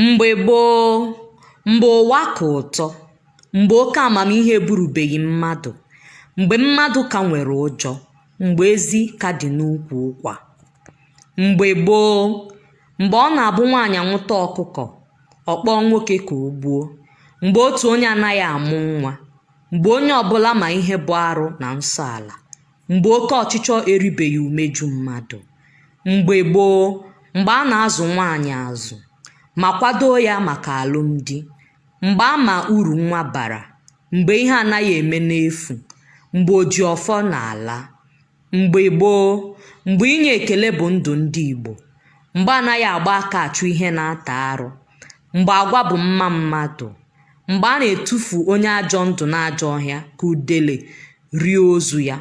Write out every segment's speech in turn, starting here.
Mgbe gboo, mgbe ụwa ka ụtọ, mgbe oke amamihe eburubeghị mmadụ, mgbe mmadụ ka nwere ụjọ, mgbe ezi ka dị n'ukwu ụkwa. Mgbe gboo, mgbe ọ na-abụ nwaanyị nwụta ọkụkọ, ọ kpọọ nwoke ka o gbuo, mgbe otu onye anaghị amụ nwa, mgbe onye ọbụla ma ihe bụ arụ na nsọ ala. mgbe oke ọchịchọ eribeghị umeju mmadụ mgbe gboo mgbe a na-azụ nwaanyị azụ ma kwadoo ya maka alụmdi mgbe a ma uru nwa bara mgbe ihe anaghị eme n'efu mgbe oji ọfọ na-ala mgbe gboo mgbe inye ekele bụ ndụ ndị igbo mgbe anaghị agba aka achụ ihe na-ata arụ Mgbe agwa bụ mma mmadụ. Mgbe a na-etufu onye ajọ ndụ n'ajọ ọhịa ka udele rie ozu ya.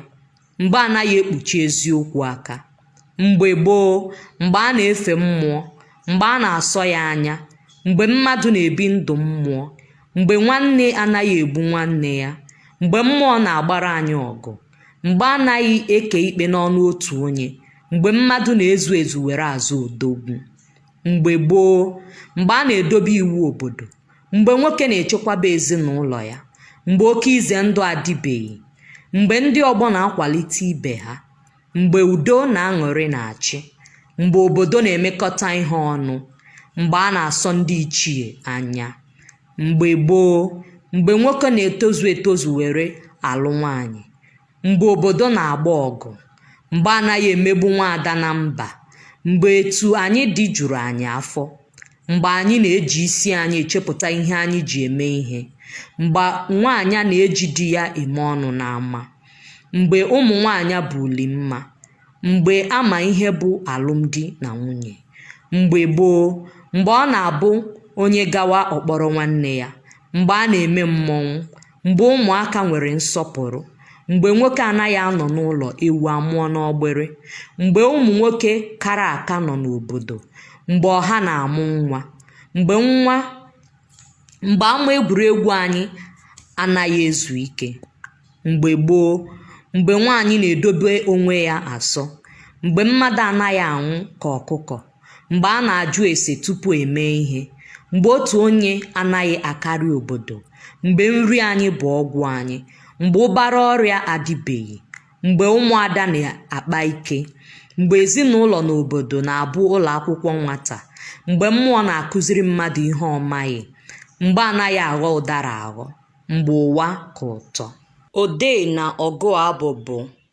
Mgbe a naghị ekpuchi eziokwu aka. Mgbe gboo, mgbe a na-efe mmụọ, mgbe a na-asọ ya anya, mgbe mmadụ na-ebi ndụ mmụọ, mgbe nwanne anaghị egbu nwanne ya, mgbe mmụọ na-agbara anyị ọgụ, mgbe a naghị eke ikpe n'ọnụ otu onye, mgbe mmadụ na-ezu ezu were aza odogwu. mgbe gboo mgbe a na-edobe iwu obodo mgbe nwoke na-echekwaba ezinụlọ ya mgbe oke ize ndụ adịbeghị mgbe ndị ọgbọ na-akwalite ibe ha mgbe udo na aṅụrị na-achị mgbe obodo na-emekọta ihe ọnụ mgbe a na-asọ ndị ichie anya mgbe gboo mgbe nwoke na-etozu etozu were alụ nwaanyị mgbe obodo na-agba ọgụ mgbe anaghị emegbu nwaada na mba mgbe etu anyị dị juru anyị afọ mgbe anyị na-eji isi anyị echepụta ihe anyị ji eme ihe mgbe nwaanyị na-eji di ya eme ọnụ n'ama mgbe ụmụ nwaanyị bụ uli mma mgbe a ma ihe bụ alụmdi na nwunye mgbe gboo mgbe ọ na-abụ onye gawa ọ kpọrọ nwanne ya mgbe a na-eme mmọnwụ mgbe ụmụaka nwere nsọpụrụ mgbe nwoke anaghị anọ n'ụlọ ewu amụọ n'ọgbịrị mgbe ụmụ nwoke kara aka nọ n'obodo mgbe ọha na-amụ nwa mgbe nwa mgbe ama egwuregwu anyị anaghị ezu ike mgbe gboo mgbe nwaanyị na-edobe onwe ya asọ mgbe mmadụ anaghị anwụ ka ọkụkọ mgbe a na-ajụ ese tupu e mee ihe mgbe otu onye anaghị akarị obodo mgbe nri anyị bụ ọgwụ anyị mgbe ụbara ọrịa adịbeghị mgbe ụmụada na-akpa ike mgbe ezinụlọ na obodo na-abụ ụlọ akwụkwọ nwata mgbe mmụọ na-akụziri mmadụ ihe ọ maghị mgbe anaghị aghọ ụdara aghọ mgbe ụwa ka ụtọ odee na ọgụ abụ bụ